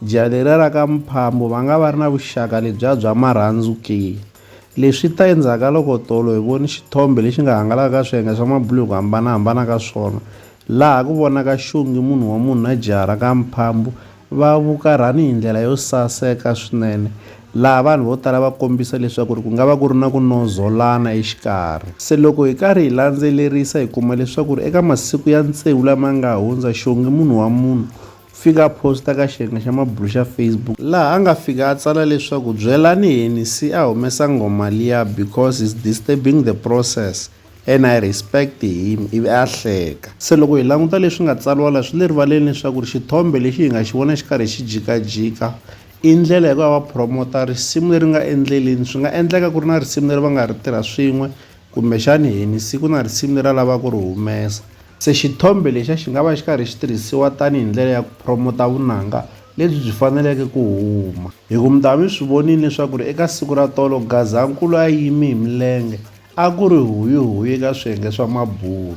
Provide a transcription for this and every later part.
Jaha leriya ra ka Mphambo va nga va ri na vuxaka lebyiya bya marhandzu ke? Leswi swi ta endzhaku ka loko tolo hi vone xithombe lexi nga hangalaka ka swiyenge swa mabulo hi ku hambana-hambana ka swona, laha ku vonaka xongi munhu wa munhu na jaha ra ka Mphambo va vukarhani hi ndlela yo saseka swinene, laha vanhu vo tala va kombisa leswaku ri ku nga va ku ri na ku nozolana exikarhi. Se loko hi karhi hi landzelerisa hi kuma leswaku ri eka masiku ya tsevu lama nga hundza, xongi munhu wa munhu fika a phosta ka xirhenga xa mabulo xa Facebook laha a nga fika a tsala leswaku byelani Henny se a humesa nghoma liya because he's disturbing the process and I respect him ivi a hleka. Se loko hi languta leswi nga tsariwa la swi le rivaleni leswaku ri xithombe lexi hi nga xi vona xi karhi xi jikajika i ndlela ya ku va va promoter risimu leri nga endleleni swi nga endleka ku ri na risimu leri va nga ri tirha swin'we Kumbexana hi ni siku na risimu leri a lavaka ku ri humesa. Se xithombe lexiya xi nga va xi karhi xi tirhisiwa tanihi ndlela ya ku phromota vunanga lebyi byi faneleke ku huma. Hikuva mi ta va mi swi vonile leswaku ri eka siku ra tolo Gazankulu a yime hi milenge a ku ri huyi-huyi eka swiyenge swa mabulu.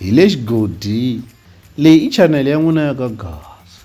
Hi le xigodini. Leyi i chanele ya n'wina ya ka Gaza.